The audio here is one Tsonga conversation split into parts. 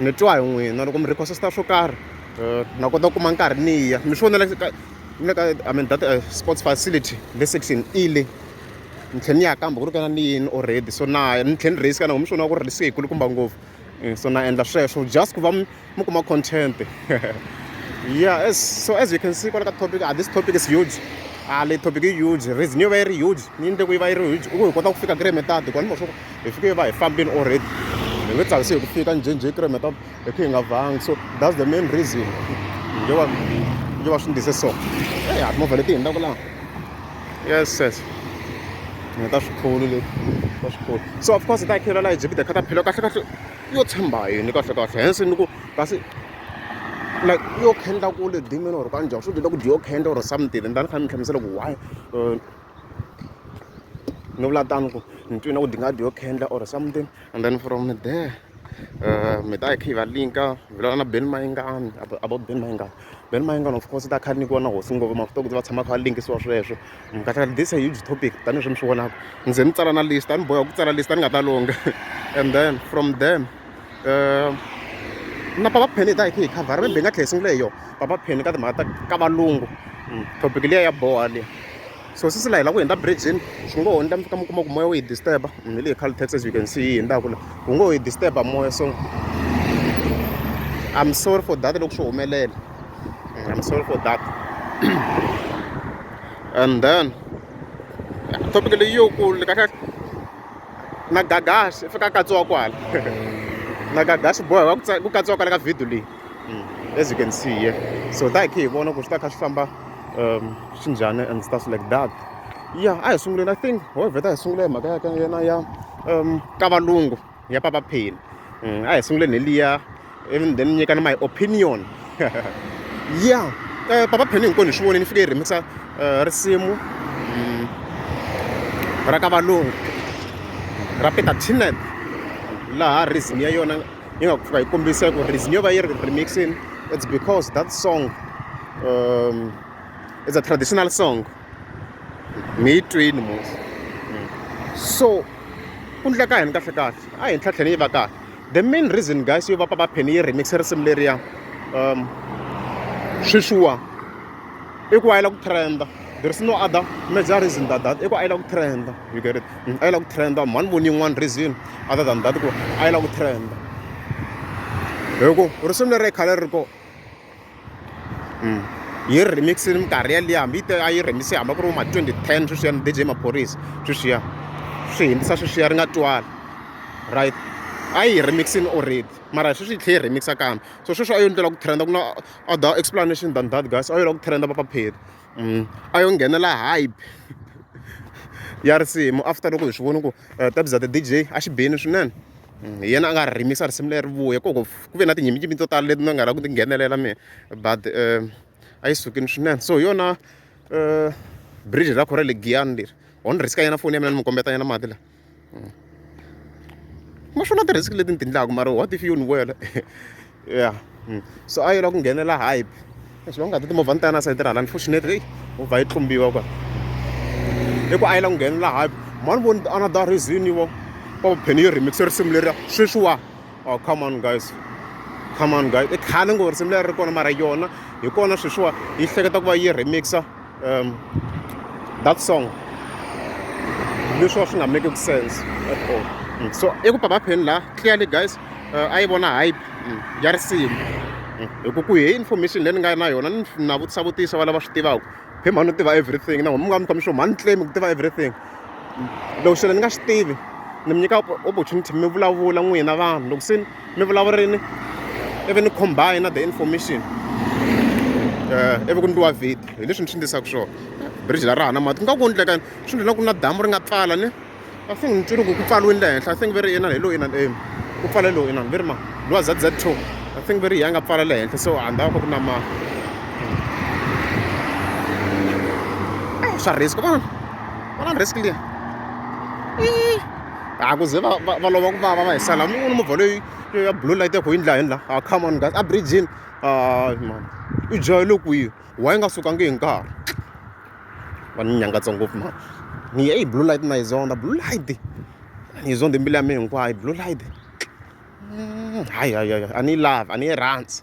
ni twa hi n'wina loko mi request-a swo karhi um na kota ku kuma nkarhi ni ya mi swi vonela ka le ka i mean that eh, sports facility le section e le ni tlhela ni ya kambe ku ri kana ni yini already so na ya ni tlhela ni raise kana mi swi vona ku ri risk yikulukumba ngopfu Eh, so na endla sweswo just ku va mi mi kuma content yeah as, so as you can see kwala ka topic ah, this topic is huge ah le topic i huge reason yo va yi ri huge ni endle ku yi va yi ri huge i ku hi kota ku fika kule metadi kwani mo swo hi fike hi va hi fambini already hi nge tsakisi hi ku fika njhenjhe hi kiremeta hi khe hi nga vangi so that's the main reason yo va yo va swi ndlise so e ya timovha leti hindzaku laha yes yes ni ta swikhulu leti ta swikhulu so of course hi ta khela laha ejibida kha ta phela kahle kahle yo tshemba yini kahle kahle hense ni ku kasi like yo khenda kule dimini or kanjhani swo dyela ku dyo khenda or something and a ni kha ni mi hlamusela ku why uh, no vula tano ku ni twi na ku dingadi yo khendla or something and then from there um mi ta yi kha yi va linka vulana na ben mayingani about ben mayingani ben mayingani of course ta kha ni vona hosi ngopfu mafita ku va tshama kha va linkisiwa sweswo mkatha this a huge topic tanihi swi mi swi vonaka ndzi ni tsala na list a ni boheka ku tsala list a ni nga ta longa and then from then na papa pen hi ta hi kha hi khavhara maybe hi nga tlhela hi sungula hi yona papa pen ka timhaka ta ka valungu hmm, topic liya ya boha leyi so sisi la hi lava ku hundza bridgini swi ngo ho ni ta mi fika mi kuma ku moya wu yi disturb hmm, hi leyi khale tax as you can see yi hundzaka la wu ngo ho yi disturb moya so i'm sorry for that loko swi humelela hmm, i'm sorry for that and then topic leyi yo ku leka na gagasi fika katsiwa kwala na gagasi boha ku katsiwa kwala ka video leyi mm. as you can see here so ta hi khe hi vona ku swi ta kha swi famba um swi njhani and stuff like that ya a hi sunguleni i think hovheta hi sungula hi mhaka ya ka yena ya um ka valungu ya papa pheni mm, a hi sunguleni hi liya even then nyika ni my opinion ya eh, papa pheni hinkwenu hi swi vone ni fike hi rhimisa eh, risimu mm, ra ka valungu ra peter tinet laha rhythm ya yona yi nga fika yi kombisa ku rhythm yo va yi ri remixini it's because that song um, it's a traditional song mi yi twini musi so ku ndleka yini kahle kahle a hi ntlhatlheni yi va kahle the main reason guys yo va papa pheni yi remixe risimu leriya um sweswiwa i ku a yi la ku trenda there is no other major reason than that i ku a yi la ku trenda you get it mm, a yi la ku trenda mhani voni yin'wana reason other than that ku a yi la ku trenda hi ku risimu leri khale ri ko mm. yi remix minkarhi yaliya hambi yi a yi remix hamba ku ri ma 2010 sweswiya ni dj maphorisa sweswiya swi hindzisa sweswiya ri nga twali right a yi remixini already mara sweswi yi tlhela yi remixa kambe so sweswi a yo ndlela ku trenda ku na other explanation than that guys a yo la ku trenda papapheri mm. a yo nghenela hype ya risimu after loko hi swi voni ku eh, tabza the dj a xi beni swinene hi yena a nga ri rimisa risimu leri vuya ku ku ve na tinyimpfu to tala leti ni nga lava ku ti nghenelela mehe but a yi sukile swinene so hi yona bridge ra kona ra le giyani leri ho ni risk-a nyana foni ya mina ni n'wi kombeta nyana mati lawa ma swona ti-risk leti ni ti endlaka mara what if yo ni wela. ya hmm. so a yi lava ku nghenela hype leswi va nga ti timovha ni ta ya na sayiti ra hala unfortunately eyi movha yi tlumbiwa kwa i ku a yi lava ku nghenela hype mani voni another reason yivo va va pheni yi remixe risimu leriya sweswiwa oh come on guys come on guys i khale ngo risimu leri ri kona mara yona hi kona sweswiwa yi hleketa ku va yi remixa um that song leswi wa swi nga make ku sense at all mm. so i ku papapheni laha clearly guys uh, a yi vona hype mm, ya risimu mm. hi ku ku hi information leyi ni nga na yona ni na vutisa vutisa va lava swi tivaka phe mhani u tiva everything na n'we mi nga mi komi swo mhani claim ku tiva everything loko xana ni nga swi tivi ni mi nyika opportunity mi vulavula n'wina vanhu loko se mi vulavurini ivi ni combine na the information um ivi ku ndliwa vhidi hi leswi ni swi ndlisaka swona bridge la ra ha na mati ku nga ku endleka swi ndlela ku na damu ri nga pfala ni i think ni twile ku ku pfaliwini le henhla i think ve ri inani hi lowu inani em ku pfale lowu inani ve ri ma lowa z z two i think ve ri ya nga pfala le henhla so a ndhawu ka ku na ma swa risk vana vana risk liya a ku ze va va va lova ku vava va hi sala mi voni movha leyi ya blue light ya kho yi ndla hi la a come on guys a bridgini hayi mani u jahele kwihi wa yi nga sukangi hi nkarhi va ni nyangatsa ngopfu mani ni ye yi blue light na yi zonda blue light ni yi zonde mbilu ya mi hinkwayo blue light hayi hayi hayi a ni yi lavi a ni yi rhandzi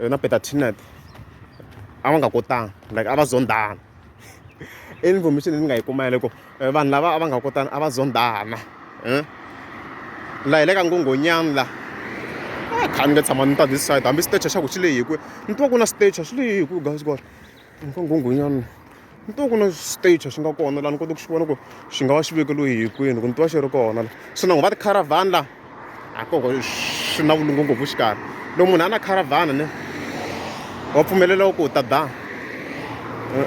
eh, na peter tinet a va nga kotanga like a va zondhana i information leyi ni nga yi kuma yaleko eh, vanhu lava a va nga kotana a va zondhana eh? la hi le ka ngongonyani la ah, kha ni nga tshama ni ta this side hambi stage xa ku xi lehi kwe ni twa ku na stage xi lehi kwe guys gore Ni ka nghunghunyana ni to ku na stage swi nga kona laha ni kota ku xi vona ku xi nga va xi vekeliwe hi kwini ku ni twa xi ri kona la se na ngo va ti-caravan la a koko swi na vulungu ngopfu xikarhi loko munhu a na caravan ne wa pfumeleliwa ku ta da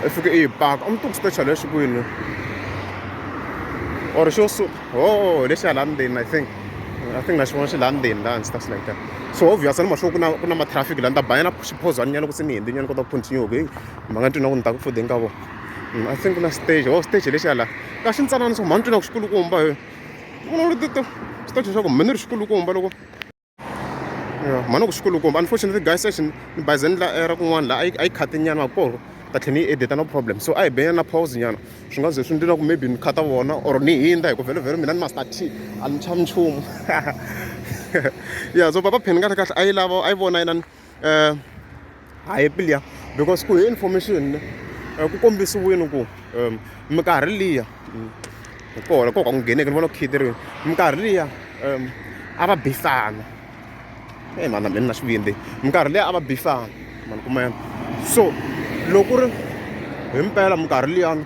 i fike i yi paka a mi to ku stage lexi kwini or xo oh lexi hala ndzeni i think i think na xivona xi laha ndzeni laha ndzi ta swi like so obvious ni maxo ku na ku na ma traffic laha ni ta banyana xiphozwana nyana ku se ni hindzi nyana kota ku continue ku heyi mhaka ni twi na ku ni ta ku fudeni ka vona mm, i think na stage oh stage lexi hala ka xi ntsanana so mhani twi na ku xikulukumba hi vona ri tito stage xa ku mhani ri xikulukumba loko mhani ku xikulukumba unfortunately guy session ni baze ni la era kun'wana laha a yi khate nyana wa koro ta tlhela ni yi edita no problem so a hi benyana na pause nyana swi nga ze swi ndlela ku maybe ni khata vona or ni hindza hikuva vhelovhelo mina ni master t a ni tshami nchumu ya so papa pheni kahle kahle a yi lava a yi vona yinani um a hi liya because ku hi information ne eh, ku kombisiwile ku um minkarhi liya mm, hi kona ko ka ku ngheneke ni vona ku khiteriwile minkarhi liya um a va bisana e mhana mina na xivindzi minkarhi liya a va bisana mani kumela so loko ku ri hi mpela minkarhi liyani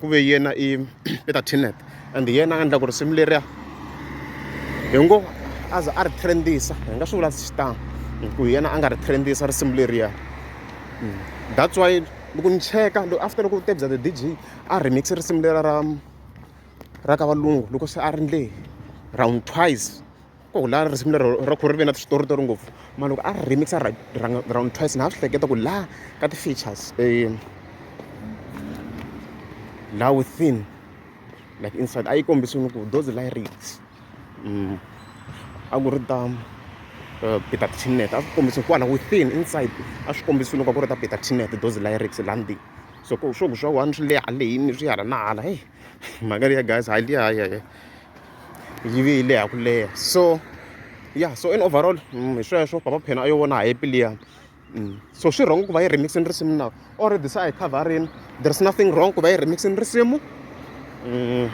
ku ve yena i i ta T-net and yena a endla ku risimu leriya hi ngo a za a ri trend-isa hi nga swi vula xitano hi ku yena a nga ri trend-isa risimu leriya hmm. that's why loko ni cheka loko after loko tebya the dj a remix risimu lera ra ra ka valungu loko se a ri ndle round twice ku laha risimu lero ra khorwisa ri ve na switoritori ngopfu mara loko a ri remix-a right round twice na ha swi hleketa ku laha ka ti-features um laha within like inside a yi kombisiwile ku those lyrics um a ku ri ta eh, peter tinet a swi kombisiwe kwala within inside a swi kombisiwile ku a ku ri ta peter tinet those lyrics laha ndzeni so ku swo ku swa one swi le haleyini swi hala na hala heyi mhaka liya guys hayi liya hayi hayi yi ve yi leha ku leha so ya so in overall mm, hi sweswo papa phena a yo vona happy liya mm. so swi wrong ku va yi remixini risimu na already se a yi coverini there's nothing wrong ku va yi remixini risimu mm,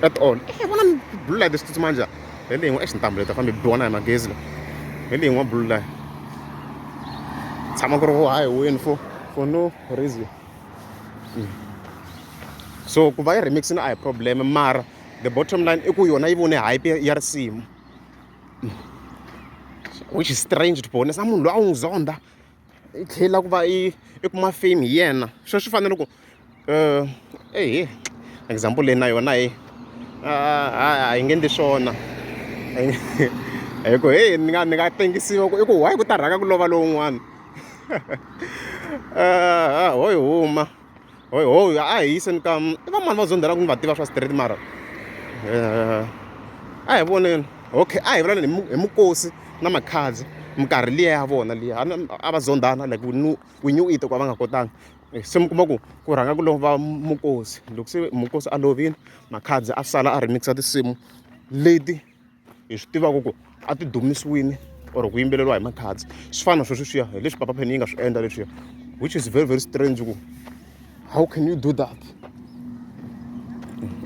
at all e vona blue light swi tsutsuma njhani hi leyi n'we e xintambu leti fambe biwana hi magezi le hi leyi n'we blue light tshama ku ri vo hayi wini for for no reason so ku va yi remixini a hi problem mara the bottom line i ku yona yi vone hype ya risimu which is strange to be honest a munhu loyi a n'wi zonda i tlhela ku va i i kuma fame hi yena swo swi fanele ku um ehe example leyi na yona hi a hi nge endli swona hi ku heyi ni nga ni nga tengisiwa ku i ku why ku ta rhanga ku lova lowun'wana a ho yi huma hoy hoy a hi yiseni ka i va mani va zonda la ku ni va tiva swa straight mara eh, a hi voneni okay a hi vulaneni hi mukosi na makhadzi minkarhi liya ya vona liya a va zondana like we knew it ku a va nga kotanga eh, se mi kuma ku ku rhanga ku lova mukosi loko se mukosi a lovile makhadzi a sala a remixa tinsimu leti hi swi tivaka ku a ti dumisiwini or ku yimbeleriwa hi makhadzi swi fana sweswi swiya hi leswi papa pheni yi nga swi endla leswiya which is very very strange ku how can you do that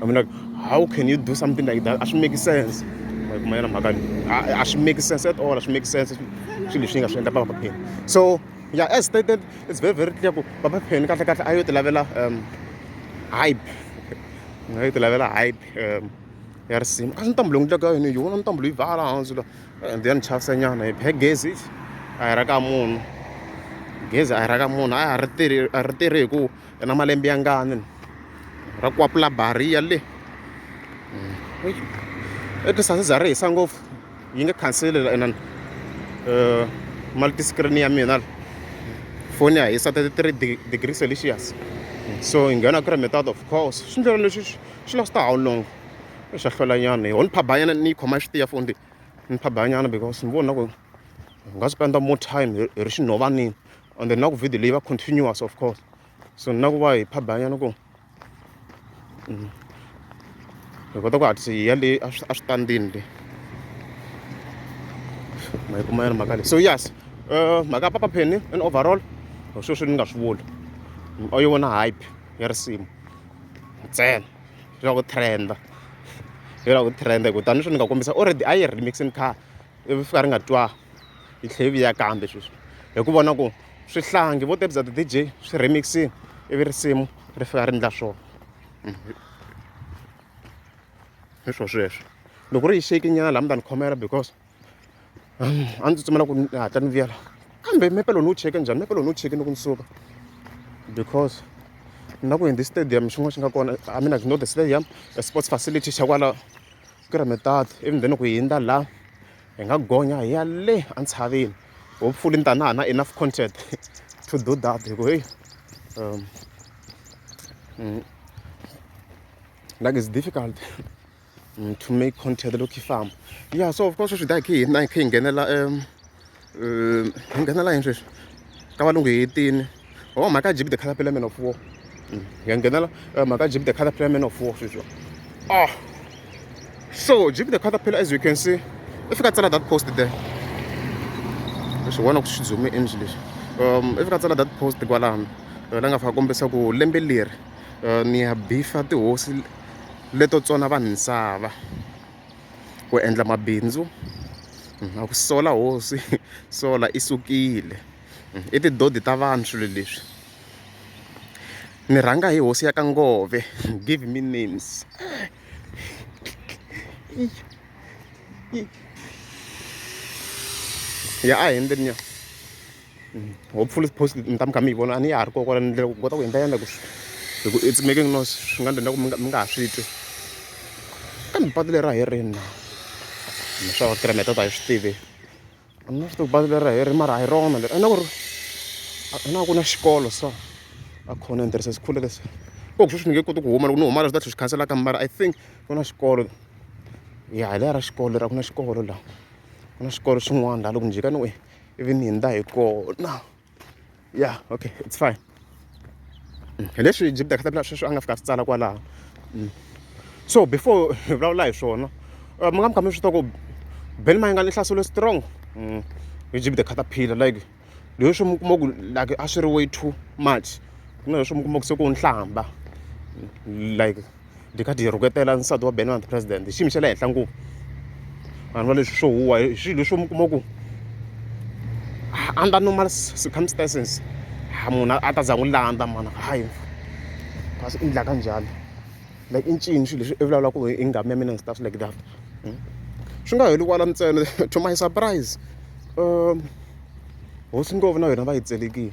I mean like how can you do something like that a swi make sense mayena mhaka a swi make sense at all a swi make sense swilo leswi yi nga swi endla papa pheni so yeah as stated it's very very clear ku papa pheni kahle kahle a yo ti lavela um hype a yo ti lavela hype um ya risima a swi ntambu leyi n'wi tlaka yini yi vona ntambu leyi bhala hansi la and then chasenyana hi phe gezi a hi ra ka munhu gezi a hi ra ka munhu a ri tirhi a ri tirhi hi ku i na malembe ya ngani ra kwapula bariya le hmm. etisasi za ri hisa ngopfu yi nga khanseli la inani um eh, mali ti-screen ya mina foni ya hisa thirty three degree celsius so hi nghena kilometers of course swi ndlela leswi swi last-a how long swa hlwelanyana hi ho ni phabanyana ni yi khoma yi swi tiya foni leyi ni phabanyana because ni vona ku hi nga spenda more time hi ri xinhovanini and then na ku video leyi va continuous of course so na ku va hi phabanyana ku mm, hi kota ku hatlisa hi ya le eswitandini le ma yi kuma yana mhaka leyi so yes eh, mhaka ya papa pheni in overall sweswi ni nga swi vuli o yi vona hype ya risimu ntsena swi lava ku trend swi lava ku trend hi ku tani sweswi ni nga kombisa already a yi remixini kha ivi fika ri nga twa yi tlhela yi vuya kambe sweswi hi ku vona ku swihlangi vo tebya ti-dj swi remixini ivi risimu ri fika ri endla swona hi swo sweswo loko ri yi shake nyana laha mi ta ni khomela because a ndzi tsutsumela ku ni hatla ni vuyela kambe mepe lowu ni wu cheke njhani mepe lowu ni wu cheke ni ku ni suka because na ku hindi stadium xin'wana xi nga kona i mean like not the stadium a sports facility xa kwala Keremetad ivi then ku hindza la hi nga gonya hi ya le entshaveni hopefully ni ta na ha na enough content to do that hi ku heyi um mm, like it's difficult Mm, to make content look farm yeah so of course sweswi dai khe hina hi khe hi nghenela um hi nghenela yini sweswi ka valungu hi yitini o oh, mhaka jib the color pelamen of war mm, hi nghenela eh, mhaka jib the color pelamen of war sweswi ah so jib the color pela as you can see i fika tsala that post there leswi vona ku swi zume endli leswi um i fika tsala that post kwalano eh, la nga fika kombisa ku lembe leri eh, ni ya bifa tihosi leto tsona vanhu misava ku endla mabindzu na ku sola hosi sola i sukile i tidodi ta vanhu swilo leswi ni rhanga hi hosi ya ka ngove give me names ya a hi ndzeni ya hopefully post mi ta mi kha mi yi vona a ni ya ha ri kokwala ni ndlela ku kota ku endla yandla ku hi ku it's making noise swi nga ndlela ku mi nga ha swi twi kambe patu leri a hi rini na mi swa va kilometer ta hi swi tivi a ni na swi tivi patu leri a hi ri mara a hi rona leri a na ku ri a na ku na xikolo so a khona ni tirhisa sikhule lexi ko ku sweswi ni nge koti ku huma loko ni huma la swi ta tlhe swi khanselaka mara i think ku na xikolo ya hi leya ra xikolo lera ku na xikolo laha ku na xikolo xin'wana laha loko ni jika ni we ivi ni hundza hi kona ya okay it's fine mm, hi leswi jibda khatabila sweswi a nga fika swi tsala kwalaho mm. so before hi vulavula hi swona uh, mi nga mi kha mi swi ku ben mayinga ni hlaselo strong mm. hi jibda khataphila like leswi mi kuma ku like a swi ri way too much ku na leswi mi kuma ku se ku nhlamba like byi kha byi rhuketela nsati wa Ben the president hi xiyimo xa le henhla ngopfu vanhu va leswi swo huwa hi swilo leswi mi kuma ku under normal circumstances ha munhu a ta za n'wi landza mana hayi va swi endlaka njhani like i ncini swilo leswi i vulavula ku i nghamu ya mina and stuff like that hmm? swi nga heli kwala ntsena to my surprise um hosi ngopfu na yona va yi tselekile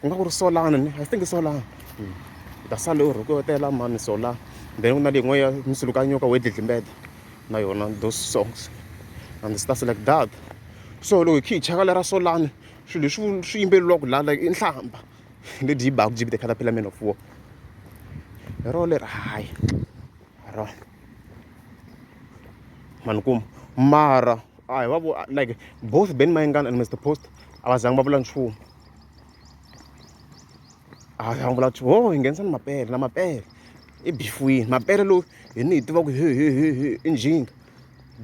ku nga ku ri solana ni i think solana hmm. u ta sale u rhukotela mami sola then ku na leyin'wana ya misilukanyoka wo dlidlimbeta na yona those songs and stuff like that so loko hi khe hi chaka lera solani swilo leswi swi yimbeleriwaka laha like i nhlamba leti yi baku jibite caterpillar man of war hi rona leri hayi hi rona mani kuma mara a hi va vo like both ben mayengana and mr post a va zangi va vula nchumu a ya vula ku ho hi nghenisa ni mapele na mapele i bifuwini mapele lowu hi ni hi tiva ku he he he he i njhinga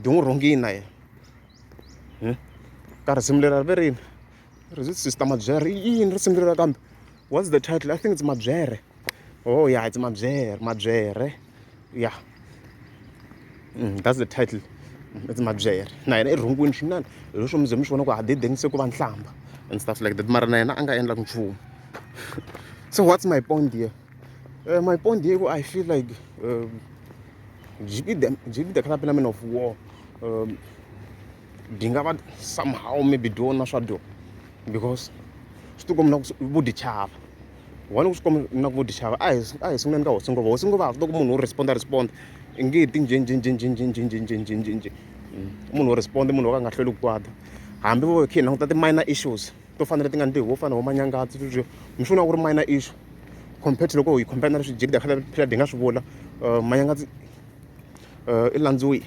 di n'wi rhungini na yena hmm? ka risimu leri ri ve rini ri sister mabyere i yini risimu leri kambe what's the title i think it's mabyere oh yeah it's mabyere mabyere yeah mm, that's the title it's mabyere na yena i rhungwini swinene hi leswo mi ze mi swi vona ku hadedeni se ku va nhlamba and stuff like that mara na yena a nga endlaka nchumu so what's my point here uh, my point here i feel like um, gb the, gb the club element of war um, byi nga va somehow maybe byi vona swa dyo because swi tikombi na ku vo dyi chava one ku swi kombi na ku vo dyi chava a hi a hi sunguleni ka hosi ngova hosi ngova ha swi tiva ku munhu wo respond a respond i nge ti njhenjhenjhenjhenjhenjhenjhenjhenjhenjhenjhe munhu wo respond munhu wo ka a nga hlweli ku kwata hambi vo khe hi languta ti-minor issues to fanele ti nga ni tihi vo fana vo manyangatsi sweswiya mi swi vona ku ri minor issue compared to loko hi compare na leswi jikida khale phela hi nga swi vula manyangatsi i landziwile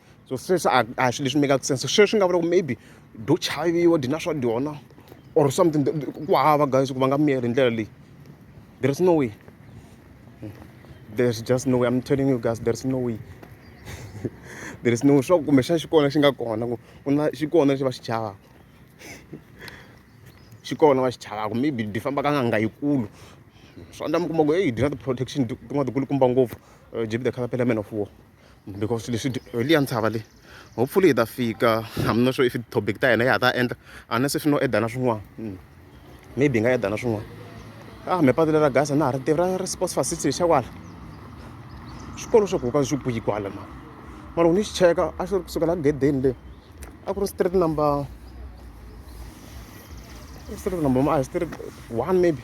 so sweswi a a hi swilo leswi make-aka sense sweswi nga vula ku maybe do chaviwa dyi na swa dyona or something ku hava guys ku va nga miyeli hi ndlela leyi there is no way there's just no way i'm telling you guys there's no way there is no way swa ku kumbexana xi kona xi nga kona ku ku na xi kona lexi va xi chavaka xi kona va xi chavaka maybe di famba ka nganga yikulu swa ndla mi kuma ku heyi di na ti-protection tin'wana tikulukumba ngopfu jibe the caterpillar man of war because leswi hi liya ntshava leyi hopefully hi ta fika i'm not sure if topic ta hina ya ha ta endla unless if no edana swin'wana hmm. maybe hi nga edana swin'wana ah me patu leri gasa na ha ri tivi ra ri sports facility xa kwala swikolo swa ku ka swi buyi kwala ma ma loko ni xi cheka a xi ri kusuka la gedeni le a ku ri street number street number ma a hi street one maybe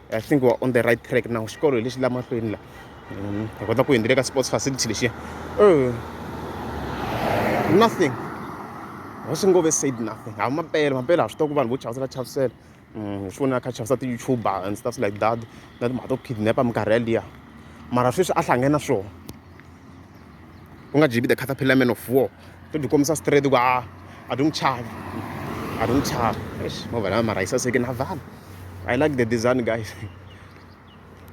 i think we're on the right track now xikolo hi lexi la mahlweni la mm, hi kota ku hindile ka sports facility lexiya oh. nothing wa swi ngove said nothing ha mampela mampela ha swi tiva ku vanhu vo chavisela chavisela mm, hi swi vonela kha chavisa ti-youtuber and stuff like that na timhaka to kidnapa minkarhi yaliya mara sweswi a hlangene na swona ku nga jibi the caterpillar man of war to byi kombisa straight ku a a byi n'wi chavi a byi n'wi chavi eish movha lama mara yi saseke na vanhu i like the design guys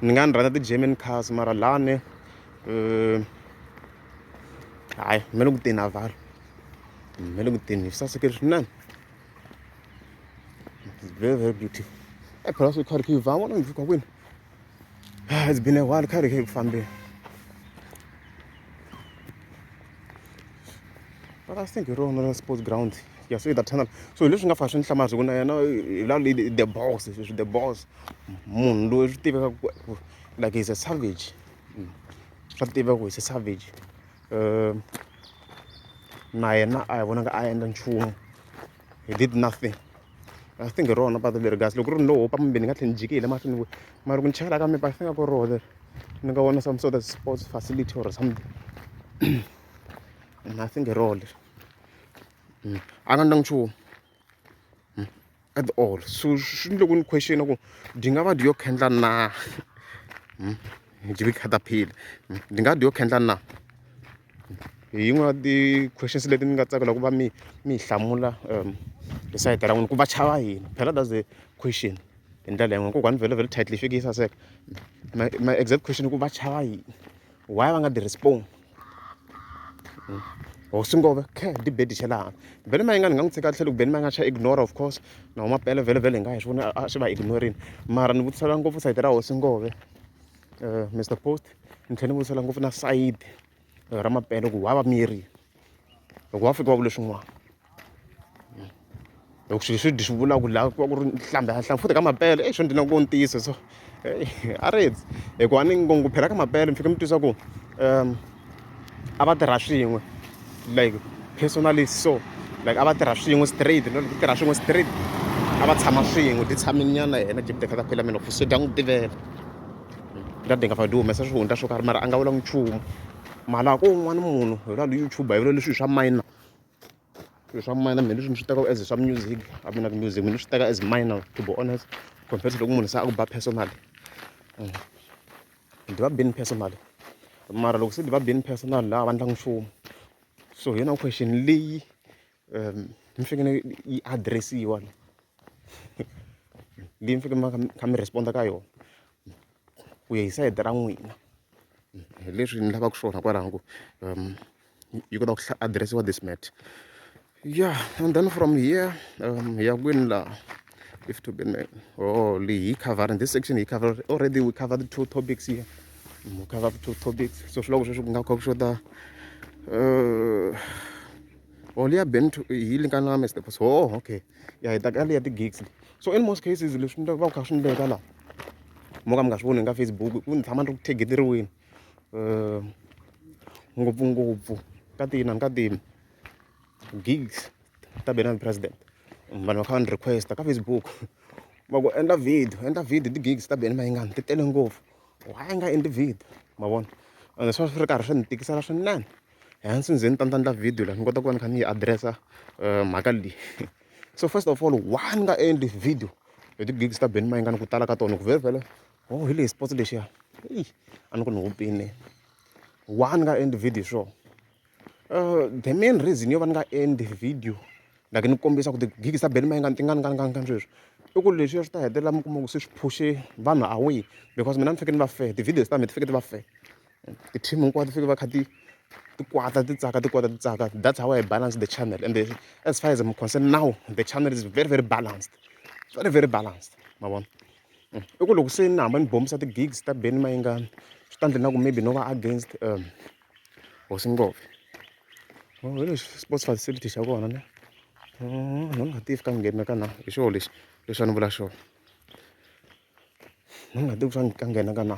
ni nga ni rhandza ti-german cars mara lani um hayi me le ku teni a vanhu me le ku teni yi saseke swinene very very beautiful e phela swi kharikhiyivha vona ndzi ka kwini Ah, it's been a while kha ri khe ku fambeni but i think hi rona ra sports ground ya so the tunnel so hi leswi nga fa swi ni hlamala swi ku na yena hi la le the boss sweswi the boss munhu loyi swi tiveka ku ku- like he's a savage Mm. swa tiva ku he's a savage um na yena a hi vonaka a endla nchumu he did nothing I think hi rona patu leri kasi loko ku ri no hopa mbe ni nga tlhela ni jikile mahlweni ku mara ku ni chayela ka mipa I think ku roho leri ni nga vona some sort of sports facility or something I think hi roho leri mm. a nga ndanga nchumu mm. at all so swi ni loko ni question ku dyi nga va dyi yo khendla na mm. byi ri caterpillar ndzi nga dyi yo khendla na hi yin'wana ya ti-questions leti ni nga tsakela ku va mi mi yi hlamula hi sayiti ra n'wina ku va chava yini phela that's the question hi ndlela yin'wani kokwani vhele vhele title yi fike yi saseka my my exact question ku va chava yini why va nga dyi respond or swi ngove khe di bedi xa laha vhele ma yi nga ni nga n'wi tshika tlhelo ku beni ma nga xa ignore of course naho mapele vhele vhele hi nga hi swi vona a swi va ignorini mara ni vutisela ngopfu sayiti ra hosi ngove Mister post ni tlhela ni vuyisela ngopfu na sayiti ra mampela ku wa va miyerile loko wa fika wa vula swin'wana loko swilo swi swi vulaka ku laha ku va ku ri nhlambha ya nhlanga futhi ka mampela exo ndzi na ku ntiyiso so a ri hikuva ni ngopfu phela ka mampela mi fika mi twisisa ku . a va tirha swin'we like personally so like a va tirha swin'we straight no ti tirha swin'we straight a va tshama swin'we ti tshamini nyana yena jebite kha ta phela mina fuso dya n'wi tivela ta dinga fa di humesa swihundla swo karhi mara a nga vula nchumu mara ko un'wana munhu hi lwa youtube hi vula leswi swa minor swilo swa minor mina leswi ni swi tekaka as swa music a mina ku music mina ni swi teka as minor to be honest compared to loko munhu se a ku ba personally mm. ni tiva Ben personal mara loko se ni tiva Ben personal a va endlangi nchumu so hi yona question leyi mi fanekele yi address-iwa leyi mi fanekele mi va mi kha mi respond-a ka yona ku ya hi sayiti ra n'wina hi leswi ni lavaka swona kwalaho ku . yi kota ku adirese wa this mat yeah and then from here um ya kwini laha if to be oh leyi yi cover in this section yi cover already we cover the two topics here we cover the two topics so swiloko sweswi ku nga kha ku xota uh or liya ben to yi lingana mr boss oh okay ya hi ta ka liya ti-gigs le so in most cases leswi ni va ku kha swi ni veka laha mo ka mi nga swi voni nga facebook ku ni tshama ni ri ku thegeteriweni ngopfungopfu ka ti inana ka ti gigs ta Benani president vanhu va kha va ni request-a ka Facebook va ku endla video endla video hi ti-gigs ta Benny Mayengani ti tele ngopfu why a nga endli video ma vona ende swi va swi ri karhi swi ni tikisela swinene hence ni ze ni ta ni ta endla video leyi ni kota ku va ni kha ni yi address-a mhaka leyi so first of all why ni nga endli video hi ti-gigs ta Benny Mayengani ku tala ka tona ku vhele vhele. oh hi leyi sports lexiya eyi a ni ku ni hupini why ni nga endli video sure uh, the main reason yo va ni nga endli video like ni kombisa ku ti-gig ta beli mayingani ti nga ni nga ni nga ni nga sweswi i ku leswiya swi ta hetelela mi kuma ku se swi phushe vanhu away because mina ni fike ni va fe ti-videos ta mina ti fike ti va fe ti-team hinkwato ti fike va kha ti ti kwata ti tsaka ti kwata ti tsaka that's how i balance the channel and the, as far as i'm concerned now the channel is very very balanced very very balanced ma vona i ku loko se ni hamba ni bombisa ti-gigs ta Benny Mayengani swi ta endla na ku maybe no va against um hosi ngove oh, hi lexi sports facility xa kona ne oh, no ni nga tivi ka nghena ka na hi xona lexi leswi a ni vula xona no ni nga tivi ka nghena ka na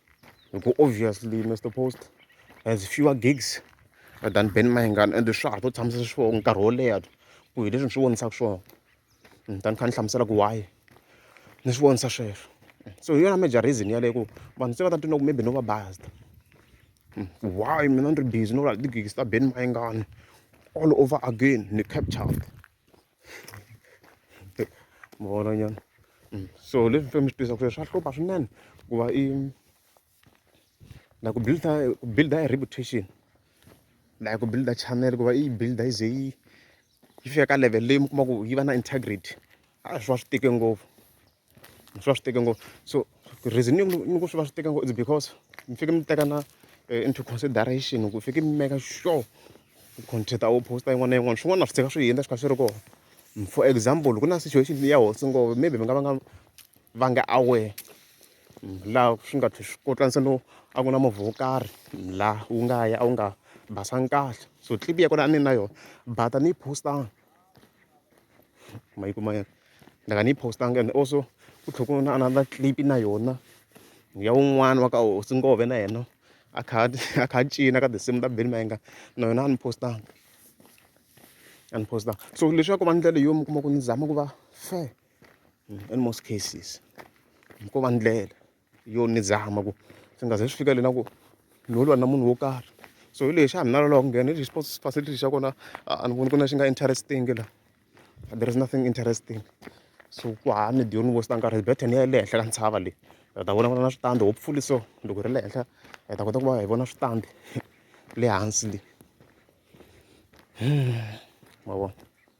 hikuva obviously Mister Post has fewer gigs than Ben Mayengani ende swa ha to tshamisa swona nkarhi wo leha ku hi leswi ni swi vonisaka swona ni ta ni kha ni hlamusela ku why ni swi vonisa sweswo so hi yona major reason yaleyo ku vanhu se va ta twa ku maybe no va based hmm, why mina ni ri busy no vula ti-gigs ta Ben Mayengani all over again ni captured Mbono nyana. Mm. So leswi mfembe swi tisa ku swa hlupha swinene ku va i na ku build ku build a reputation like ku build channel ku va i build yi ze yi yi fika ka level leyi mi kuma ku yi va na integrity a swi va swi tike ngopfu. swi va swi teke ngopfu so reason ni ni ku swi va swi teke ngopfu is because mi fanekele mi teka na eh, into consideration ku fanekele mi make sure ku content a wu posta yin'wana na yin'wana swin'wana na swi tshika swi hundza swi kha swi ri kona for example ku na situation ya hosi ngopfu maybe mi nga va nga va nga aware laha swi nga tlhe swi kotlanisa no a ku na movha wo karhi laha wu nga ya a wu nga basanga kahle so clip ya kona a ni na yona bata ni yi postanga ma yi kuma ya ni nga ni yi post-angi and also ku tlhela ku va na another clip na yona ya wun'wani wa ka Hosi Ngove na yena a kha a a kha a cina ka tinsimu ta Benny Mayengani na yona a ni post-angi a ni post-angi so leswaku va ndlela yo mi kuma ku ni zama ku va fair in most cases ko va ndlela. yo ni zama ku swi nga ze swi fika le na ku ni ho lwa na munhu wo karhi so hi lexi a ni na loloha ku nghena hi sports facility xa kona a ni voni ku na xi nga interesting la there is nothing interesting so ku ha ni diyo ni westa nkarhi bethe ni ya le henhla ka ntshava leyi hi ta vona vona na switandi hopefully so loko hi ri le henhla hi ta kota ku va hi vona switandi le hansi le hmm, ma vona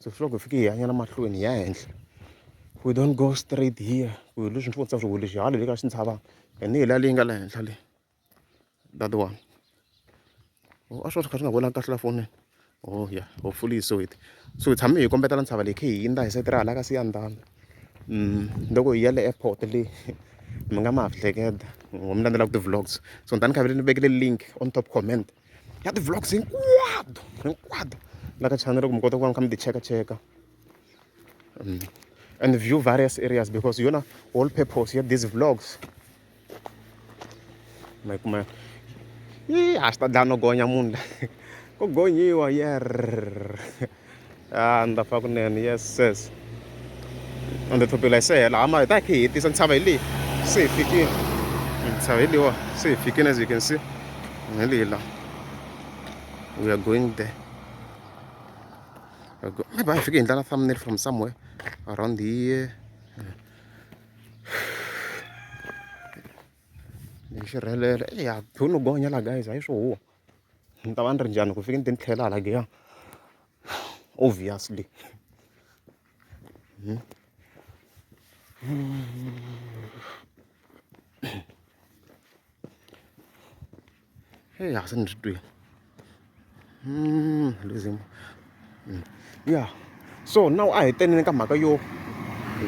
So swi hloko hi fike hi yanyana mahlweni hi ya henhla we don't go straight here ku hi leswi mfutsa swi leswi hala le ka swi ntshava hi ni hi la leyi nga le henhla le that one o oh, a swi va swi kha swi nga vonaki kahle la fonini o oh, ya hopefully so it so hi tshame hi kombetela ntshava leyi khe hi yindza hi sete ra hala ka siya ndhani mm, loko hi ya le airport le mi nga ma ha hleketa ngo mi landzela ku ti-vlogs so ni tani khavele ni vekele link on top comment ya ti-vlogs hinkwato hinkwato la ka channel ku mi kota ku va mi kha mi ti cheka cheka mm. and view various areas because yona whole purpose ya these vlogs ma kuma yi a swi ta dlaya no gonya munhu la ko gonyiwa yer a ni ta fa kunene yes ses ende thopela hi se hela hama hi ta khe hi hetisa ntshava hi leyi se hi fikile ntshava hi leyiwa se hi fikile as you can see hi leyi la we are going there maybe hi fike hi ndlala thumbnail from somewhere around here hi xirhelelo ya byo no gonya la guys a yi swo huwa ni ta va ni ri njhani loko ni fika ni te ni tlhela hala giya obviously heyi a se ni ri twini hmm, losing hmm. ya so now a hi teneni ka mhaka yo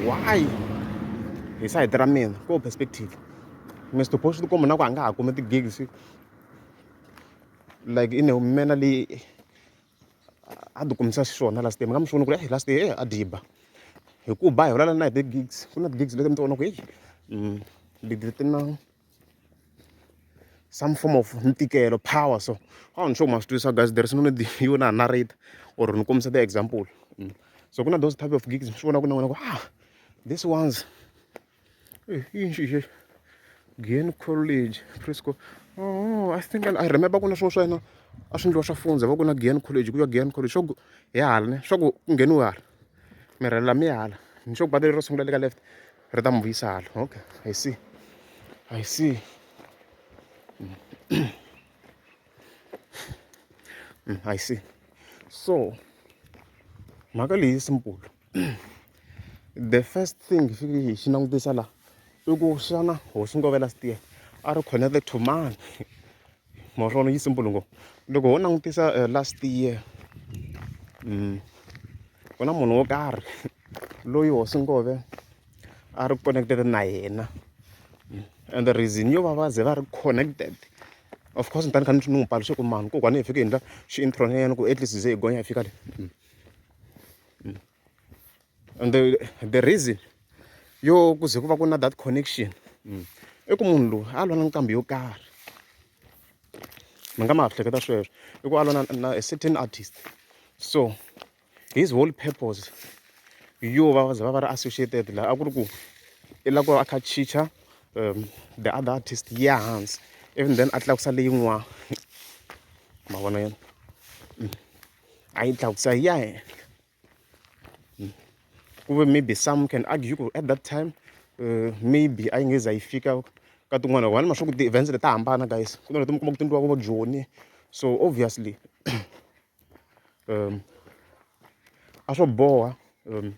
why hi sayiti ra mina ko perspective mi swiboxi tikomba na ku a nga ha kumi ti-gigs like i nehumela leyi a ti kumisa xiswona last day mi nga mi xi vona ku ri last day a diba hi ku ba hi vulavula na hi ti-gigs ku na ti-gigs leti mi ti vona ku heyi mm, leti ti na some form of ntikelo power so a ni sure ma swi twisisa guys there is no need yo na narrate or ni kombisa ti-example mm. so ku na those type of gigs mi swi vona ku na wena ku ah these ones Eh, yini xi xexo gain college frisco oh i think i remember ku na swin'wana swa yena a swi endliwa swa fundza va ku na gain college ku ya gain college swa ku hi hala ne swa ku ku ngheniwe hala mirhela mi hala ni swa ku bata leri ro sungula le ka left ri ta mi vuyisa hala okay i see i see mm, i see so mhaka leyi simple the first thing xi xi langutisa laha i ku xana hosi Ngovela Sitiya a ri connected to mani ma swi vona yi simple ngopfu loko ho langutisa eh, last year mm, ku na munhu wo karhi loyi hosi Ngove a ri connected na yena mm, and the reason yo va va ze va ri connected of course ni tani kha ni n'wi paluxe ku mani kokwani hi fike hi endla xi-intron ya yena ku at least ze hi gonya hi fika le mm. mm. and the, the reason yo ku ze ku va ku na that connection mm. i ku munhu loyi a lwa na nqambi yo karhi mi nga ma ha hleketa sweswo i ku a lwa na a certain artist so his whole purpose yo va ze va va ri associated laha a ku ri ku i lava ku va a kha chicha um the other artist ya hansi even then a tlakusa leyin'wana ma vona yena mm. a yi tlakusa yi ya henhla ku ve maybe some can argue ku at that time uh, maybe a yi nge za yi fika ka tin'wana wani ma swa ku ti-events leti ta hambana guys ku na leti mi kuma ku ti endliwaka vo joni so obviously um a swo boha um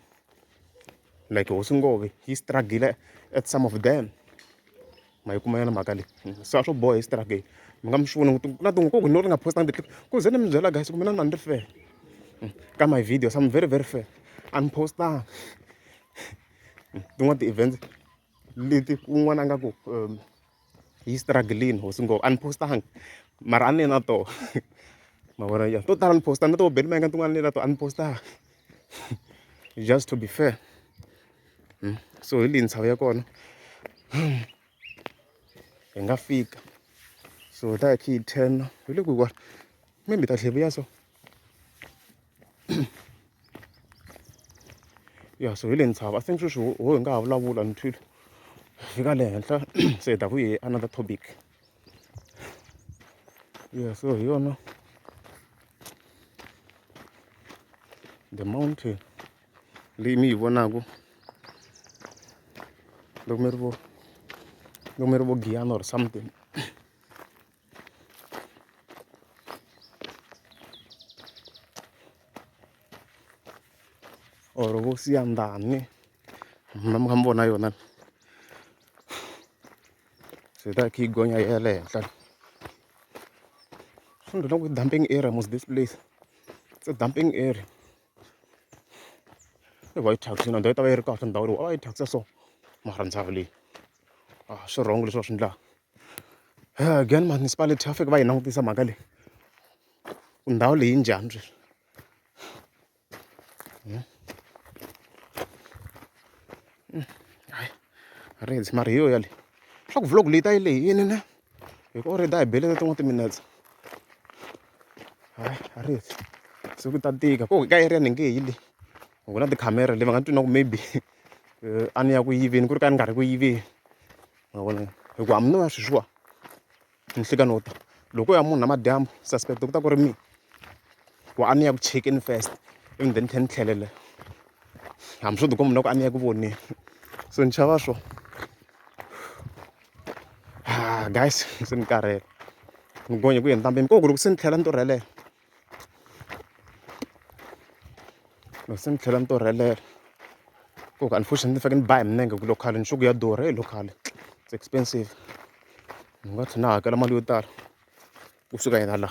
like hosi ngove yi struggle at some of them ma yi kuma yona mhaka leyi se a swo boha exitirageni mi nga mi xi voni ku na tin'we ku no ri nga postanga ti-clip ku ze ni mi byela guys ku mina ni ni ri fair hmm. ka my videos I'm very very fair a ni postanga hmm. tin'wana ti-events leti un'wana a nga ku um, yi strugglini hosi ngopfu a ni postanga mara a ni na toho ma vona ya to tala ni postanga na toho beli ma yinga tin'wana ni na to a ni postanga just to be fair hmm? so hi leyi ntshava ya kona hi nga fika so ta hi khe yi ten hi le ku wa maybe ta tlhe vuya so ya so hi le ntshava i think sweswi ho hi nga ha vulavula ni twile fika le henhla se hi ta ku hi another topic Yeah, so you know the mountain leyi mi yi vonaku loko mi ri vo loko mi ri vo giyana or something or vo siyandhani mi kha mi vona yona se hi ta khe hi gonya hi ya le henhla swi ni byela ku i dumping area mos this place it's a dumping area i white tax na ndhawu yi ta va yi ri kahle ndhawu leyi a va yi thyakisa so mara ndhawu leyi a ah, swi wrong leswi va swi endlaka eh, again municipality va fike va yi langutisa mhaka leyi ku ndhawu leyi njhani sweswi Yeah. Mm. Hayi, rings mara hi yo yale swa ku vlog leyi ta yi leyi yini ne hi ku already a hi belele tin'wana timinetse hayi a ri heti se ku ta tika ko ka area ni nge hi le ku na tikhamera le va nga twi na ku maybe eh, a ni ya ku yiveni ku ri ka ni nga ri ku yiveni ma vona hi ku hambi no ya sweswiwa ninhlikani wo ta loko ko ya munhu namadyambu suspect ku ta ku ri mina ku a ni ya ku chekeni first ivi then ni tlhela ni tlhelela hambi swo ti komba na ku a ni ya ku voneni so ni xava swo ha guys se ni karhele ni gonya ku yini ntambi ko ku loko se ni tlhela ni torhelela. loko se ni tlhela ni torhelela ku ku unfortunately ni faneke ni ba hi milenge ku local nchuku ya durha hi local it's expensive ni nga tlhela ni hakela mali yo tala kusuka yena la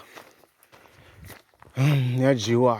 ya dyiwa.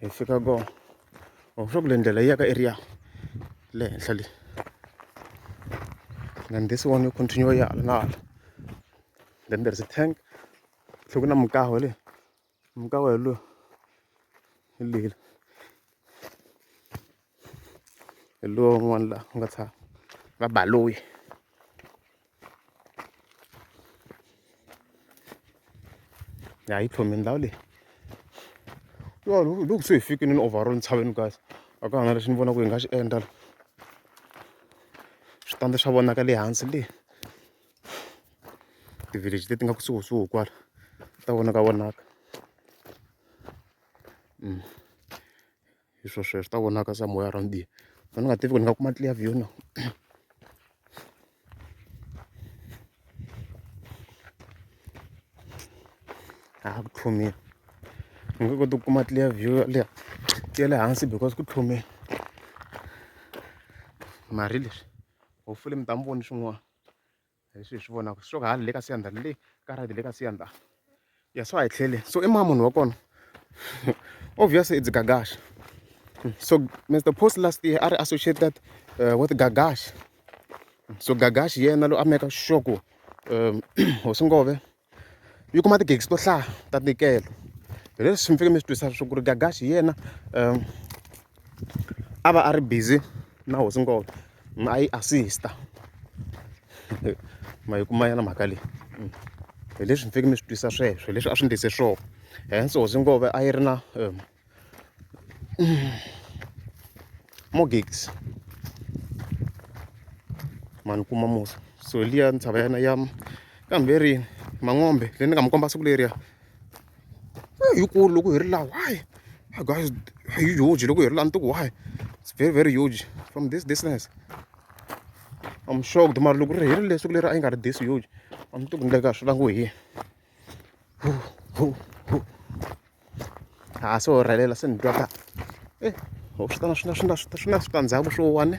hi fika kona or swa ku le ndlela yi ya ka area le henhla le then this one you continue ya hala na hala then there is a tank tlhe ku na mukaho le mukaho hi lowu hi leyila hi luwa un'wana la nga tshama va Baloyi ya yi tlhome ndhawu leyi yo loko se hi fikile ni overall ntshaveni guys a ka ha na lexi ni vonaka ku hi nga xi endla switandi swa vonaka le hansi le ti-village leti nga kusuhisuhi kwala ta vonaka vonaka mm. hi swo sweswo swi ta vonaka se moya around here se ni nga tivi ku ni nga kuma clear view na a ku tlhumile ni nge koti ku kuma clear view ya le ya le hansi because ku tlhumile mari leswi hopefully mi ta mi voni swin'wana hi swi hi swi vonaka swi ka ha le ka siyanda le ka ride le ka siyanda ya swa hi tlhele so i ma munhu wa kona obvious it's gagash so mr post last year a ri associated uh, with gagash so gagash yena lo a meka sure ku um hosi ngove yi kuma tigegisi to hlaya ta ntikelo hi leswi mi fike mi swi twisa swo ku ri gagaxi hi yena um a va a ri busy na hosi ngolo a yi assista ma yi kuma yena mhaka leyi mm. hi leswi mi fike mi swi twisa sweswo hi leswi a swi ndlise swona hence hosi ngove a yi ri na um more gigs mani kuma musa so liya ntshava yana ya kambe rini mang'ombe leyi ni nga mi komba siku leriya yikulu loko hi ri laha why guys hi huge loko hi ri laha ni tiku why it's very very huge from this distance I'm shocked mara loko ri herile siku leri a yi nga ri this huge a ni tiku ni le ka swi langiwe hi yini ha se orhelela se ni twa ka e ho swi ta na swi na swi na swi ta swi na switandzhaku swo one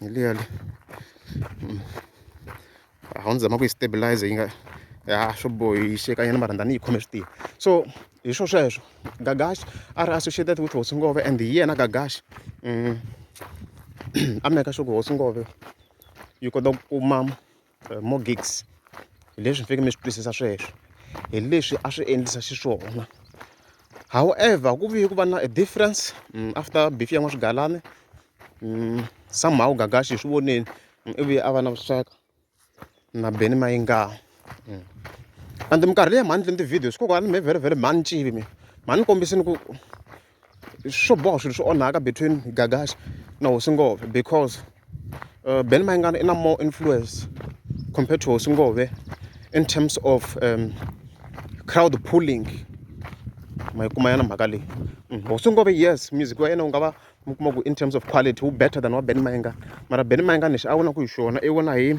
hi liya le hmm. a wu ni zama ku yi stabilize yi nga ya swo bohixekanyana mara ndani yi khome swi tiya so hi swo sweswo gagash a ri associated with hosi ngove and hi yena gagash um a meka swa ku hosi ngove yi kota ku kuma eh, more gigs hi leswi mi fanekele mi swi twisisa sweswo hi leswi a swi endlisa xiswona however ku vuye ku va na a difference mm, after beef ya n'waswigalani mm, somehow gagashi hi swi voneni mm, ivuye a va na vuxaka na beni mayingaho and minkarhi leyi mhani endleni ti-videos kokwani mi very very mhani ncivi mi mhani kombisini ku swo boha swilo swi onhaka between gagaxa na hosi ngove because uh, ben mayingana i na more influence compared to hosi ngove in terms of um, crowd pulling ma yi kuma yana mhaka leyi mm, hosi ngove yes music wa yena u nga va mi kuma ku in terms of quality wu better than wa ben mayingana mara ben mayingana lexi a vona ku hi xona i vona hi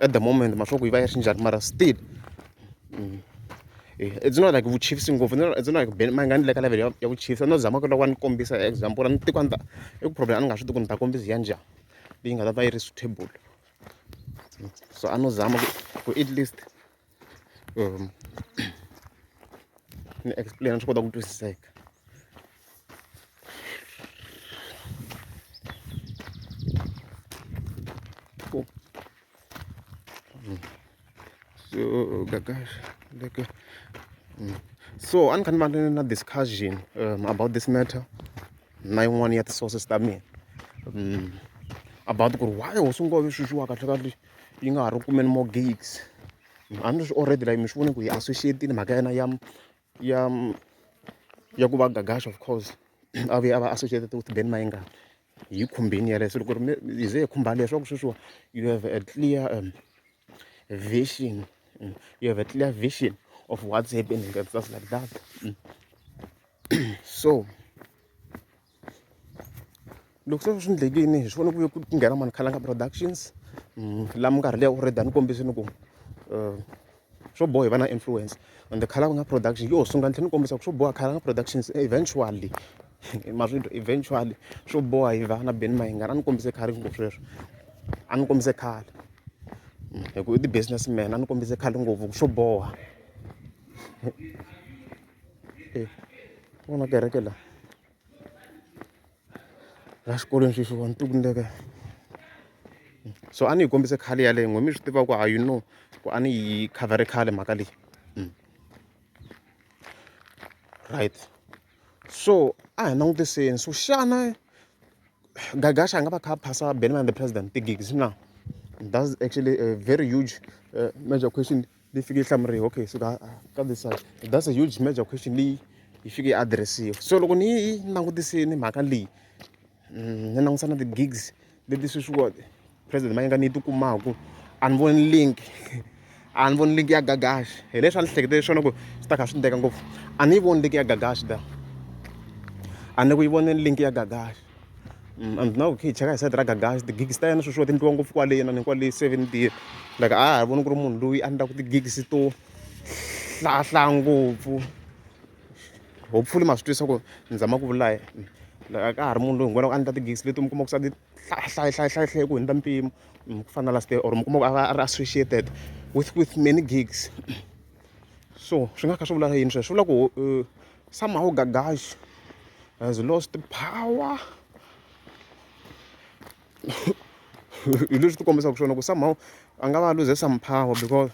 at the moment mara swa ku yi va yi ri njhani mara still it's not like vuchifisi ngopfu it's not like ma nga ni le ka level ya ya vuchifisi a no zama ku loko a ni kombisa example a ni tiko a ni ta i ku problem a ni nga swi tivi ku ni ta kombisa ya njhani leyi nga ta va yi ri suitable so a no zama ku ku at least. ni explain swi kota ku twisiseka so gagash like mm. so a ni kha ni va na discussion um, about this matter na yin'wana ya ti-sources ta mina um, about ku ri why hosi ngove swi swiwa kahle kahle yi nga ha ri ku kumeni more gigs a ni ri swi already like mi swi vona ku hi associate-ini mhaka ya yena ya ya ya ku va Gagash of course a vuye a va associated with Benny Mayengani hi yi khumbini yeleyo se loko ri hi ze hi khumba leswaku sweswiwa you have a clear um, vision mm, you have a clear vision of what's happening and stuff like that mm. so loko se swi endlekile hi swona ku ve ku nghena mani khalanga productions mm, laha minkarhi leyi already a ni kombisini ku um swo boha hi va na influence and the khalanga production yo sungula ni tlhela ni kombisa ku swo boha khalanga productions eventually ma swi eventually swo boha hi va na beni mahingana a ni kombise khale ngopfu sweswo a ni kombise khale mm, hi ku i ti-business man a ni kombise khale ngopfu ku swo boha e vona kereke la la xikolweni xexo wa ni tiku ni le ka so a ni yi kombise khale yaleyo n'we mi swi tiva ku ha you know ku a ni yi khavhare khale mhaka leyi mm. right so a hi langutiseni so xana gagasha a nga va kha a phasa benman the president ti-gigs na that's actually a very huge uh, major question leyi fike yi hlamuriwa okay so ka ka this side that's a huge major question leyi yi fike yi address-iwa so loko ni yi langutisini mhaka leyi mm, ni langutisa na ti-gigs leti sweswiwa president mayinga ni yi tikumaku a ni voni link a ni voni link ya gagaxi hi leswi a ni hleketele swona ku swi ta kha swi ndeka ngopfu a ni yi voni link ya gagaxi da a ni ku yi voneni link ya gagaxi and now hi kha hi cheka hi side ra gagax ti-gigs ta yena sweswiwa ti endliwa ngopfu kwale inana kwale seven deal like a ha ha voni ku ri munhu loyi a endlaku ti-gigs to hlahla ngopfu hopefully ma swi twisa ku ni zama ku vula like a ka ha ri munhu loyi hinkwalaku a endla ti-gigs leti mi kuma ku sa ti hlahlahlahlahlahe ku hundza mpimo ku fana na last year or mi kuma ku a va a ri associated with with many gigs so swi nga kha swi vula yini sweswo swi vula ku somehow gagaxi has lost power hi leswi ti kombisaka swona ku somehow a nga va a luze some power because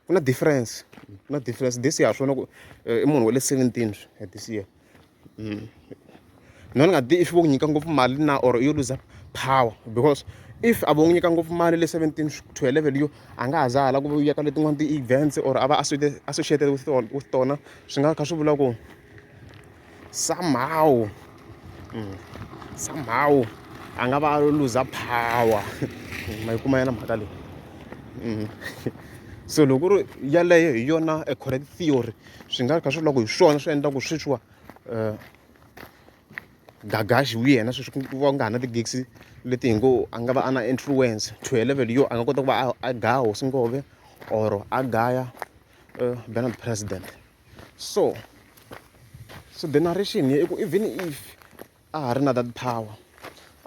ku na difference ku na difference this year ha swona ku i munhu wa le seventeen at this year mm. mina ni nga tivi if vo ku nyika ngopfu mali na or yo luza power because if a vo n'wi nyika ngopfu mali le seventeen to eleven yo a nga ha za hala ku va yeka letin'wana ti-events or a va associated with tona with tona swi nga kha swi vula ku somehow mm, somehow a nga va a luza power ma yi kuma yena mhaka leyi mm. so loko ku ri yaleyo hi yona a correct theory swi nga kha swi loko hi swona swi endla ku sweswiwa um gagaxi wu yena sweswi ku va ku nga ha na ti-gigs leti hi ngo a nga va a na influence to a level yo a nga kota ku va a gaya hosi ngove or a gaya um eh, benard president so so the narration here i ku even if a ha ri na that power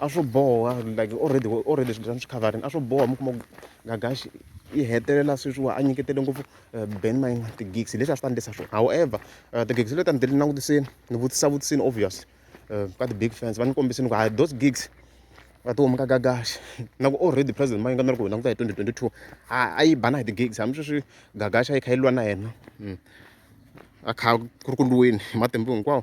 a swo boha like already already swilo swa swi coverini a swo boha mi kuma ku gagaxi yi hetelela sweswiwa a nyiketele ngopfu eh, ben mine ti-gigs leswi a swi ta ndlisa swona however eh, ti-gigs leti a ni tele langutiseni ni vutisa vutisini obviously eh, ka ti-big fans va ni kombisini ku hayi those gigs va ti humi ka gagaxi na ku already president mayinga ni ri ku hi languta hi 2022 a yi bana hi ti-gigs hambi sweswi gagaxi a yi kha yi lwa na yena hmm. a kha ku ri ku lweni hi matimba hinkwawo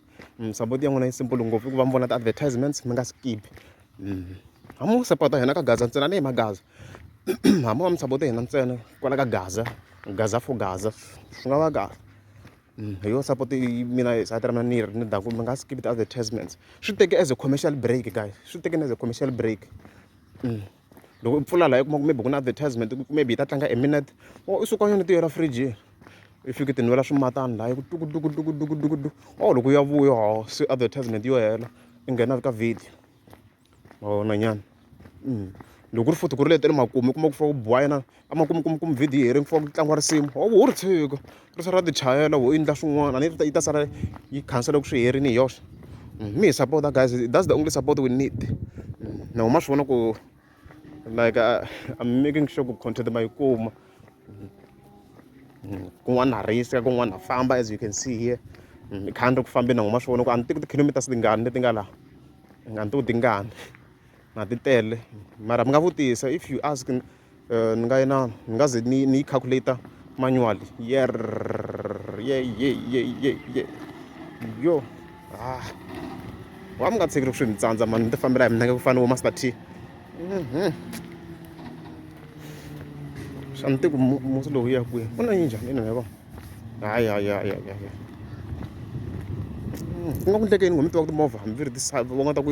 mm, support ya n'wina yi simple ngopfu i ku va mi vona ti-advertisements mi nga skip mm. ha mu sapota hina ka gaza ntsena ni hi magaza ha mu va mi sapote hina ntsena kwala ka gaza gaza for gaza swi nga va kahle mm, hi yo support mina sati ra mina ni ri ni daku mi nga skip ti-advertisements swi teke as a commercial break guys swi teke as a commercial break mm. loko u pfula laha u kuma ku maybe ku na advertisement ku maybe yi ta tlanga a minute or u suka yona tiyo ra firijini i fiki ti nwela swimatani laha ku tukutukutukutukutukutu or loko u ya vuya ho se advertisement yo hela i nghena ka video ma vona nyana loko ku ri futhi ku ri leti le makumu u kuma ku fa ku biwa yena a ma kumu kumu kumu video yi ri ku tlangiwa risimu ho ho ri tshika ri sala ra ti chayela ho endla swin'wana a yi ta yi ta sala yi khansela loko swi herile hi yoxe mi hi sapota guys that's the only support we need na huma swi vona ku like uh, I'm making sure ku content ma yi kuma mm, kun'wana ha risa kun'wana ha famba as you can see here mm, i khani ri ku fambeni na huma swi vona ku a ni tiku ti-kilometers tingani leti nga laha nga ni tiku tingani na ti tele mara mi nga vutisa if you ask ni ni nga na ni nga ze ni ni yi calculator manually yerr ye ye ye ye ye yo ha wa mi nga tshiki loko swi mi tsandza mani ni ti fambela hi minenge ku fana ni vo master t mhm. xa ni tiku musi lowu ya kwihi u na yi njhani ina yavo hayi hayi hayi hayi hayi ku nga ku ndlekeni ngo mi tiva ku timovha hambi ri ti va nga ta ku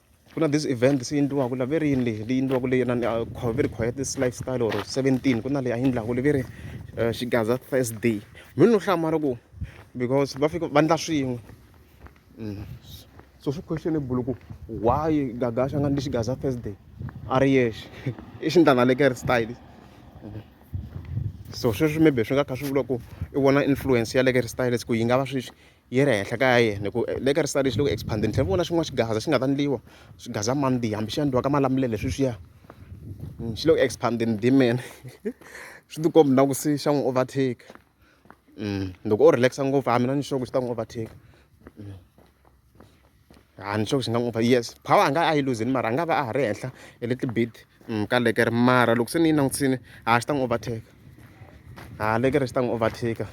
ku na this event se yi endliwaka la ve ri yini leyi leyi endliwaka leyi na ve ri khwaya this lifestyle or seventeen ku na leyi a yi endlaka le ve ri eh, xigaza thursday mi no hlamala ku because va fika va endla swin'we mm. so swi questionable ku why gagasha nga ndli xigaza thursday a ri yexe i xindlanalekeri style mm. so sweswi maybe swi nga kha swi vula ku i vona influence ya lekeri styles ku yi nga va sweswi yi ri henhla ka ya yena hi ku le ka risa lexi le ku expand-eni ni tlhela ni vona xin'wana xigaza xi nga ta endliwa swigaza mandiha hambi xi endliwa ka malamulele sweswiya xi le ku expand-eni demon swi ti kombi na ku se xa n'wi overtake loko o relax ngopfu a mina ni sure ku xi ta n'wi overtake. a ni sure ku xi nga n'wi pfa yes power a nga a yi luzini mara a nga va a ha ri henhla hi le tibit mm, ka lekere mara loko se ni yi langutisini ha xi ta n'wi overtake ha lekere xi ta n'wi overtake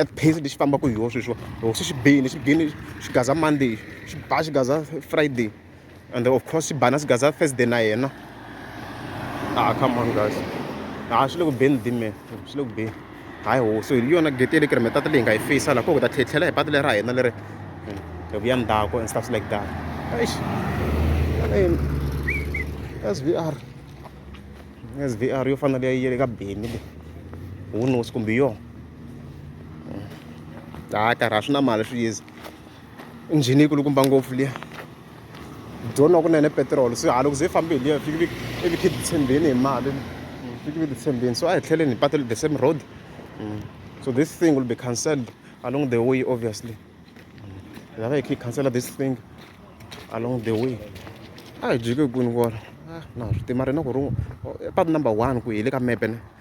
at pace lexi fambaka hi yoho sweswiwa loko se xi bini xi bini xi gaza monday xi ba xi gaza friday and of course swi bana swi gaza first day na yena ah come on guys ha ah, swi le ku beni dime swi le ku beni hayi ho so hi yona gate le kiri mitata leyi nga yi fisa laha ko ku ta tlhetlhela hi patu leri ra hina leri hi hmm, vuya ndzhaku and stuff like that eish svr svr yo fana leyi yele ka beni le who knows kumbe yona hmm. hayi karhi a swi na mali swi yizi injhini yi kulukumba ngopfu liya dyoni wa kunene petiroli se hala ku ze yi fambe hi liya fiki i vi khe ti tshembeni hi mali fiki vi ti tshembeni so a hi tlheleni hi patu the same road mm. so this thing will be cancelled along the way obviously hi lava hi khe hi cancela this thing along the way a hi jiki kwini kwala ah, na swi tima rina ku ri patu number one ku hi le ka mepe ne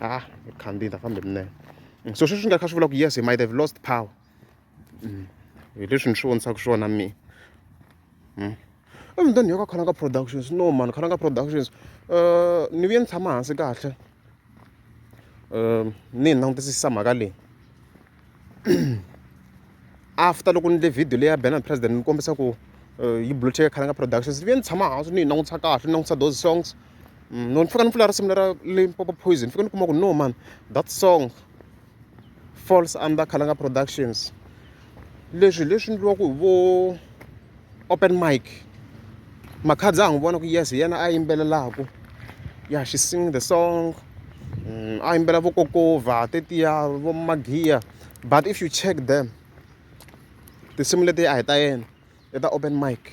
ah khandziyi ta famba hi minene mm, so sweswi swi nga kha swi vula ku yes he might have lost power mm, hi leswi ni swi vonisaka swona mina mm. emutani yo ka khalanga productions no mani khalanga productions um ni vuye ni tshama hansi kahle um ni hi langutisisa mhaka leyi after loko ni endle video leyi ya banner president ni kombisa ku yi block-eke khale ka productions ni vuye ni tshama hansi ni yi langutisa kahle ni langutisa those songs no ni fika ni pfula risimu lera Limpopo Poison ni fika ni kuma ku no man that song falls under Khalanga Productions leswi hi leswi endliwaka hi vo open mic makhadzi a n'wi vona ku yes hi yena a yimbelelaka ya she sing the song mm, a yimbela vokokova tetiya vo magiya but if you check them tinsimu leti a hi ta yena i ta open mic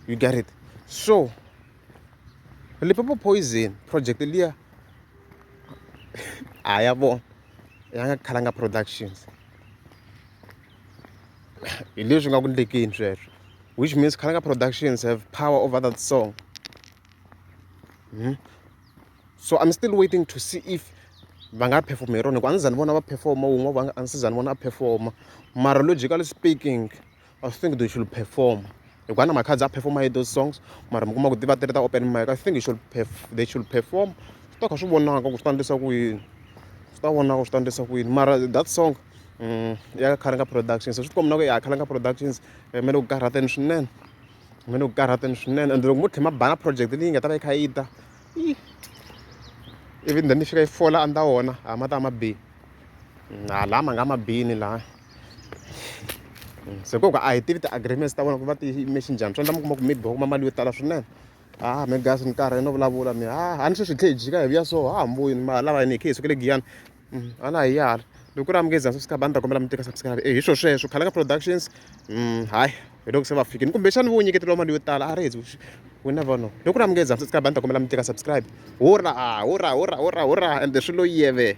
you get it so lipopo poison project liya a ya vona ya nga khalanga productions hi leswi nga ku ndlekeni sweswo which means Khalanga Productions have power over that song hmm? so I'm still waiting to see if va nga perform hi rona hikuva a ndzi za ni vona va performa wun'we va a ndzi za ni vona a performa mara logically speaking I think they should perform hikuva na makhadzi a perform-a hi those songs mara mi kuma ku ti va ti ri ta open mic i think you should they should perform swi ta kha swi vonaka ku swi ta endlisa ku yini swi ta vonaka swi ta endlisa ku yini mara that song mm, ya khalenga productions swi tikombi na ku ya khalenga productions eh, mi le ku karhateni swinene mi le ku karhateni swinene and loko mo tlhe mabana project leyi nga ta va yi kha yi ta ivi then ni fika yi fola andza wona a ma ta ma bihi mm, ha lama nga ma bini laha se ko ka a hi tivi ti-agreements ta vona ku va ti yime xinjhani swi endla mi kuma ku maybe va kuma mali yo tala swinene ah me gas ni karhi no vulavula mi ah a ni sweswi hi tlhe hi jika hi vuya so ha ha mboyini ma lava yini hi khe hi sukele giyani mm, a na hi yala loko ku ri amukeza swi sikaba ni ta kombela mi teka subscribe e hi swo sweswo khalanga productions mm, hayi hi loko se va fikini kumbexani vo nyiketeriwa mali yo tala a rezi we never know loko ku ri amukeza subscribe ni ta kombela mi teka subscribe hurra hurra hurra hurra hurra ende swi lo yeve